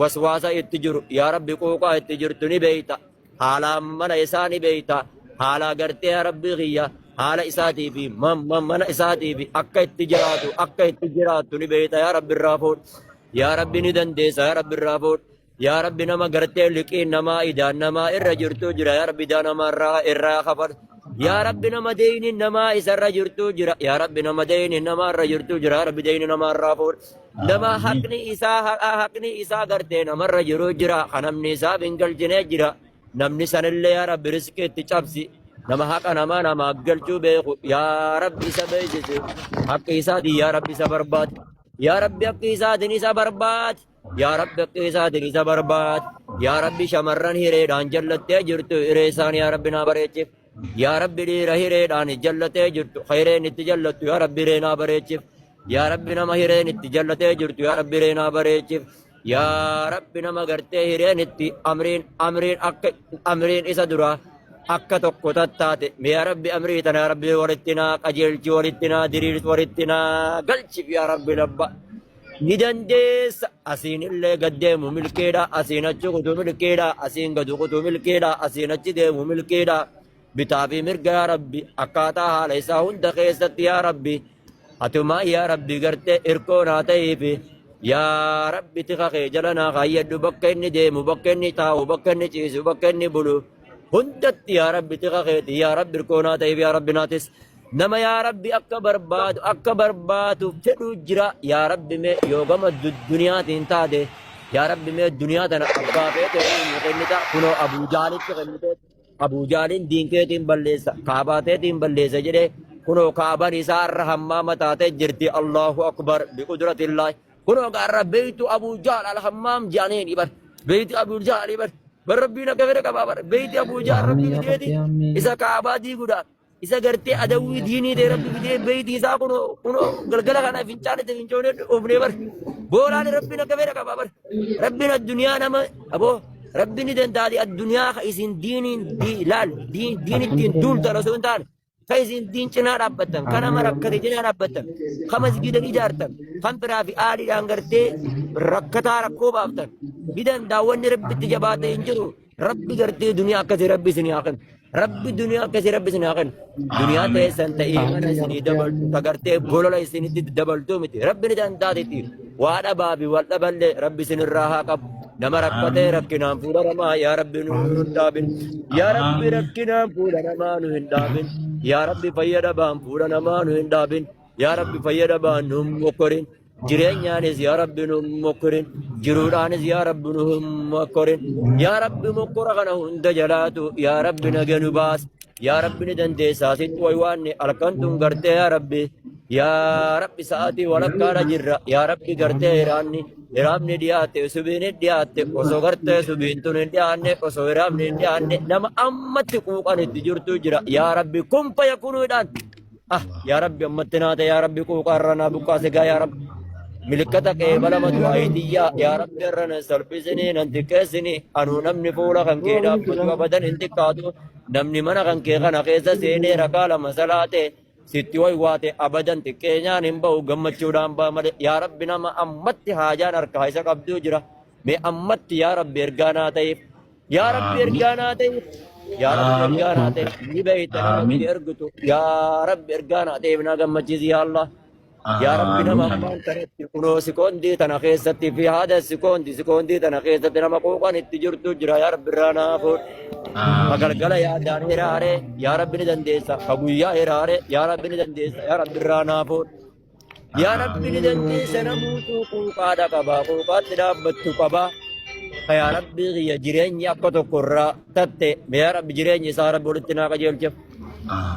waswaasa itti jiru yaa rabbi qooqaa itti jirtu ni beeyta haala mana isaa ni beeyta haala gartee yaa rabbi kiyya haala isaatii fi ma- ma- mana isaatii fi akka itti jiraatu akka itti jiraattu ni beeyta yaa rabbi irraa fuudh yaa rabbi ni dandeessa yaa rabbi irraa fuudh yaa rabbi nama gartee liqiin namaa idaan namaa irra jirtu jira yaa rabbi idaa namaa irraa irraa kafal yaa rabbi nama deeyni namaa isarra jirtu jira yaa rabbi nama deeyni namaa irra jirtu jira yaa rabbi deeyni namaa irraa fuudh Nama Aamiin. haqni isaa haqa haqni isaa gartee namarra jiru jira. Kan namni isaaf hin galchine jira. Namni sanillee yaa Rabbi riskii itti cabsi. Nama haqa namaa namaa galchuu beeku. Yaa Rabbi isa beeksisi. Haqqi isaatiin yaa Rabbi isa barbaadi. Yaa Rabbi haqqi isaatiin isa barbaadi. Yaa Rabbi haqqi isaatiin isa barbaadi. Yaa Rabbi shamarran hireedhaan jallattee jirtu hiree isaanii yaa Rabbi naa bareechif. Yaa Rabbi dhiira hireedhaan jallatee jirtu hireen itti jallattu yaa Rabbi reenaa bareechif. Yaa Rabbi nama hireen itti jallatee jirtu yaa Rabbi reenaa bareechif. Yaa Rabbi nama gartee hireen itti amriin amriin akka amriin isa duraa akka tokko tattaate yaa Rabbi amrii tana yaa Rabbi walitti naa qajeelchi walitti naa diriirsi walitti naa galchif yaa Rabbi labba. Ni dandeessa asiin illee gad deemu milkeedha asiin achi kutu milkeedha asiin gadu kutu milkeedha asiin achi deemu milkeedha bitaa fi mirga yaa rabbi akkaataa haala isaa hunda keessatti yaa rabbi atumaa yaa rabbi gartee irkoo naa ta'ee fi yaa rabbi tika kee jala naa kaayyadhu bakka inni deemu bakka inni taa'u bakka inni ciisu bakka inni bulu hundatti yaa rabbi tika keeti yaa rabbi irkoo naa ta'ee fi yaa rabbi naatis. Nama yaa rabbi akka barbaadu akka barbaadu fedhu jira yaa rabbi mee yoo gama du- duniyaatiin taate yaa rabbi mee duniyaa tana abbaa feete inni kennita kunoo abuu jaalitti kennite abuu jaaliin diinkeetiin balleessa kaabaateetiin balleessa jedhe kunoo kaaban isaa irra hammaa mataatee jirti allahu akbar biqudratillaahi kunoo gaarra beeytu abuu jaal alhammaam jaaniin ibar beeyti abuu jaal ibar bar rabbiin akka fedhe qabaa bar beeyti abuu jaal rabbiin Ameen, ya Rabbi, deeti ameen. isa kaabaa diiguudhaan isa gartee adawwii diinii ta'e rabbi bitee beeyti isaa kun kun galgala kana fincaan itti fincoonee dhufnee bar boolaan rabbiin akka fedha qaba bar rabbiin addunyaa nama aboo rabbiin ni dandaati addunyaa ka isin diiniin di- laal diin diin ittiin duultan osoo hin taane ka isin diin cinaa dhaabbattan ka nama rakkate cinaa dhaabbattan ka masgiidan ijaartan kan biraa fi aadhiidhaan gartee rakkataa rakkoo baaftan ni danda'a wanni rabbitti jabaate hin jiru Rabbi gartee duniyaa akkasii rabbi isinii haa kennu. Rabbi duniyaa akkasii rabbi isinii haa kennu. Duniyaa Amiin. teessan ta'ee mana Amiin yaa isinii rabbi dabaltu amiin. ta gartee bolola isinitti dabaltu miti. Rabbi ni danda'atetti. Waa dhabaa fi wal dhaballee rabbi isinirraa haa qabu. Nama rakkatee Amiin. rakkinaan fuudha namaa yaa rabbi nu hin Amiin. dhaabin. Yaa rabbi Amiin. rakkinaan fuudha namaa nu hin dhaabin. Yaa rabbi fayyadabaan fuudha namaa nu hin dhaabin. Yaa rabbi fayyadabaan nu hin mokkorin. jireenyaanis yaa rabbi nu hin mokkorin jiruudhaanis yaa rabbi nu hin mokkorin yaa rabbi mokkora kana hunda jalaatu yaa rabbi naga nu baas yaa rabbi ni dandeessaa sit waywaanni halkan tun gartee yaa rabbi yaa rabbi sa'aatii walakkaadha jirra yaa rabbi gartee hiraanni hiraamni dhiyaatte subiin hin dhiyaatte osoo gartee subiin tun hin dhiyaanne osoo hiraamni hin dhiyaanne nama ammatti quuqan itti jirtu jira yaa rabbi kun fayyakuluudhaan Ah, yaa Rabbi ammatti naate yaa Rabbi quuqaa irra naa buqqaase gaa yaa Rabbi. Milikkata kee balama du'aayi tiyyaa yaa Rabbi irra nan salphisini nan xiqqeessini anuu namni fuula kan kee dhaabbatu abadan hin xiqqaatu namni mana kan kee kana keessa seenee rakaa lama salaate sitti waywaate abadan xiqqeenyaan hin ba'u gammachuudhaan ba'a malee yaa Rabbi nama ammatti haajaan harkaa isa qabduu jira mee ammatti yaa Rabbi ergaa naa ta'eef Yaa Rabbi Aamiin. ergaa naa ta'e. Yaa Rabbi Aamiin. ergaa naa ta'e. Ni beekta nama Aamiin. itti ergitu. Yaa Rabbi ergaa naa ta'eef naa gammachiisi yaa Allah. Yaa Rabbi nama Aamiin. ammaan kanatti kunoo sikoondii tana keessatti fi haada sikoondii sikoondii tana keessatti nama quuqan itti jirtu jira yaa Rabbi irraa naa fuudh. Ka Aamiin. galgala yaadaan hiraare yaa Rabbi ni dandeessa. Ka guyyaa hiraare yaa Rabbi ni dandeessa. Yaa Rabbi irraa naa fuudh. Yaa Rabbi ni dandeessa namuutu quuqaadha qaba. Quuqaatti dhaabbattu qaba. Yaa Rabbi kiyya jireenyi akka tokko irraa tatte. Yaa Rabbi jireenyi isaa Rabbi walitti naa qajeelcha.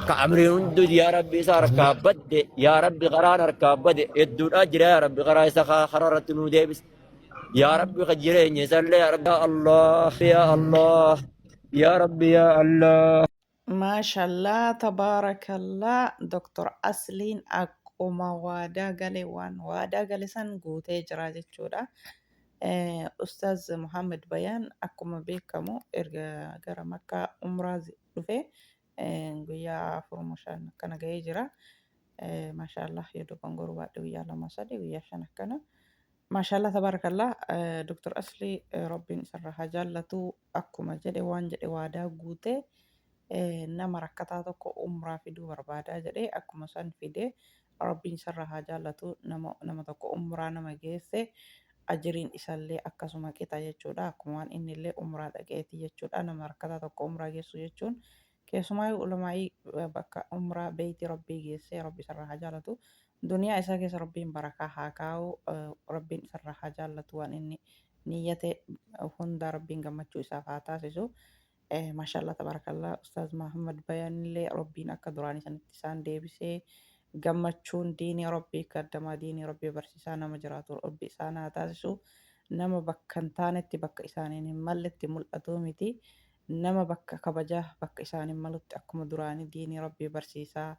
Ka amriin hundi yaa Rabbi isa harkaa badde. Yaa Rabbi karaan harkaa badde. Hedduudhaa jira yaa Rabbi karaa isa karaa irratti nuu deebise. Yaa Rabbi ka jireenyi isallee yaa Rabbi yaa Allah yaa Allah. Yaa Rabbi yaa Allah. Maashallaa tabarakallaa Doktar Asliin akkuma waadaa gale waan waadaa gale san guutee jira jechuudha. Ustaaz Muhammad Bayaan akkuma beekamu erga gara Makkaa umraa dhufe guyyaa afuruma shan akkana ga'ee jira. Maashaallah yoo dogongoru baadhe guyyaa lama sadii guyyaa shan akkana Maashaallah tabarakallah eh, Dr. Asli eh, Rabbiin isarra haa jaallatu akkuma jedhe waan jedhe waadaa guute eh, nama rakkataa tokko umraa fiduu barbaadaa jedhe akkuma san fide Rabbiin isarra haa jaallatu nama, nama tokko umraa nama geesse ajiriin isallee akkasuma qixa jechuudha akkuma waan innillee umraa dhaqeeti jechuudha nama rakkataa tokko umraa geessu jechuun Keessumaayuu Ulamaa'ii bakka Umraa Beeyti Rabbii geesse Rabbi isarraa haa jaalatu. Duniyaa isaa keessa Rabbiin barakaa haa kaa'u. Rabbiin isarraa haa jaallatu waan inni niyyate hundaa Rabbiin gammachuu isaaf haa taasisu. Mashallah tabarakallah Ustaaz Mahammad Bayanillee Rabbiin akka duraanii sanitti isaan deebisee gammachuun diinii Rabbii kaddamaa diinii Rabbii barsiisaa nama jiraatu Rabbi isaan haa taasisu. Nama bakka hin taanetti bakka isaaniin hin malletti mul'atuu miti. nama bakka kabaja bakka isaan hin malutti akkuma duraanii diinii rabbii barsiisaa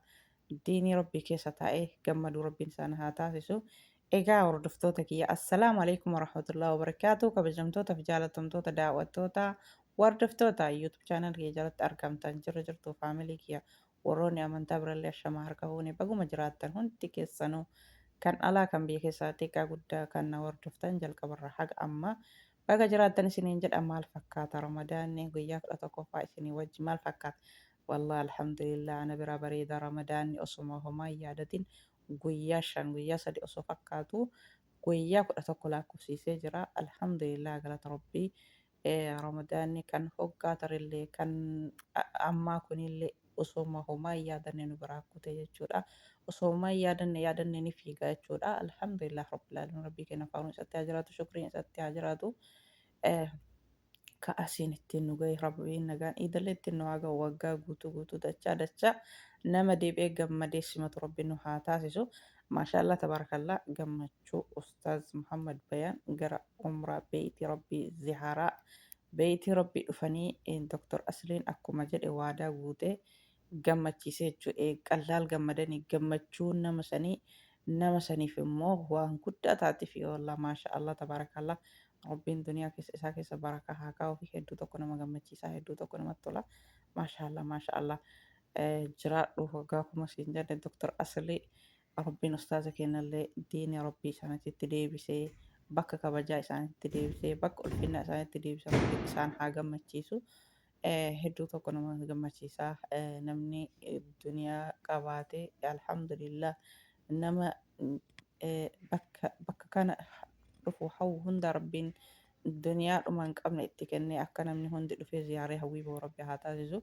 diinii rabbii keessa taa'e gammaduu rabbiin isaan haa taasisu egaa hordoftoota kiyya assalaamu alaikum warahmatullahi wabarakaatuu kabajamtoota fi jaalatamtoota daawwattoota wardoftoota youtube channel kiyya jalatti argamtan jirra jirtu faamilii kiyya warroonni amantaa birallee ashamaa harka fuune baguma jiraattan hundi keessanuu kan alaa kan biyya keessaa xiqqaa guddaa kan na hordoftan jalqabarra haga ammaa Baga jiraattan isiniin jedha maal fakkaata ramadaanni guyyaa 11ffaa isinii wajji maal fakkaata wallahi alhamdulillah ana biraa bareeda ramadaanni osoma homaa hin yaadatin guyyaa 5 guyyaa 3 osoo fakkaatu guyyaa 11 laakkofsiisee jira alhamdulillah galata rabbii ramadaanni kan hoggaa tarillee kan ammaa kunillee osooma homaa hin yaadanne nu biraa kute jechuudha. Osoo homaa hin yaadanne yaadanne ni fiiga jechuudha. Alhamdulillah Rabbil Aalamiin Rabbii keenya faaruun isatti haa jiraatu shukriin isatti haa jiraatu. Eh, ka asiin ittiin nu gahe rabbiin nagaan iidallee ittiin nu haa gahu waggaa guutuu guutuu dachaa dachaa nama deebi'ee gammadee simatu rabbi nu haa taasisu maashaallaa tabaarakallaa gammachuu ustaaz muhammad bayaan gara umraa beeyti rabbii zihaaraa Beeyti Rabbii dhufanii Doktar Asliin akkuma jedhe waadaa guutee gammachiise jechu qallaal gammadani gammachuun nama sanii nama saniif immoo waan guddaa taatifi wallah maasha Allah tabarakaallah Rabbiin duniyaa keessa isaa keessa barakaa haa kaa'ufi hedduu tokko nama gammachiisaa hedduu tokko namatti tola maasha Allah maasha Allah jiraadhu waggaa kuma siin jenne Doktar Aslii Rabbiin ustaaza keenyallee diinii Rabbii isaanitti deebisee bakka kabajaa isaanitti deebisee bakka ulfinnaa isaanitti deebisee Rabbiin isaan haa gammachiisu. Eh, Hedduu tokko nama gammachiisa. Eh, Namni eh, duniyaa qabaate alhamdulillah nama eh, bakka bakka kana dhufu hawwu hunda Rabbiin duniyaa dhuma hin qabne itti kennee akka namni hundi dhufee ziyaaree hawwii ba'u Rabbi haa taasisu.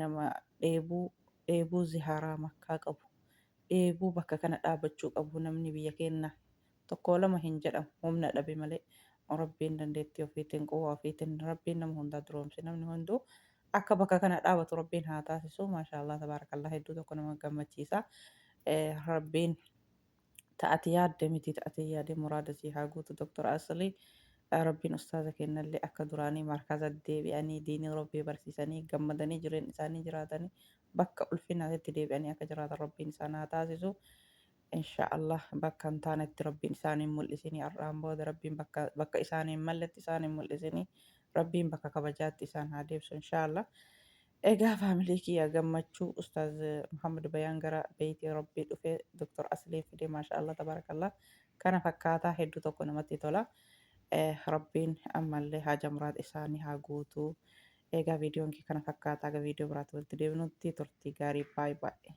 nama dheebuu dheebuu ziharaa makkaa qabu dheebuu bakka kana dhaabachuu qabu namni biyya keenna tokkoo lama hin jedhamu humna dhabe malee rabbiin dandeettii ofiitiin quwwaa ofiitiin rabbiin nama hundaa duroomse namni hunduu akka bakka kana dhaabatu rabbiin haa taasisu maashaallah tabaarakallaah hedduu tokko nama gammachiisa rabbiin ta ati yaadde miti ta ati yaade muraada sii haa guutu Doktar Asli Rabbiin ustaaza keennallee akka duraanii markaza deebi'anii diinii Rabbii barsiisanii gammadanii jireenna isaanii jiraatanii bakka ulfinaatitti deebi'anii akka jiraatan Rabbiin isaan haa taasisu inshaa Allah bakka hin taanetti Rabbiin isaan hin mul'isinii har'aan booda Rabbiin bakka bakka isaan hin malletti isaan hin mul'isinii Rabbiin bakka kabajaatti isaan haa deebisu inshaa Allah Egaa family kiyya gammachuu ustaaz Muhammad Bayaan gara beyti rabbii dhufe Doktar Asliin fide mashallah tabarakallah kana fakkaata heddu tokko namatti tola rabbiin ammallee haaja muraad isaani haa guutu egaa viidiyoon kee kana fakkaata haga viidiyoo biraatti walitti deebinutti turtii gaarii baay baay.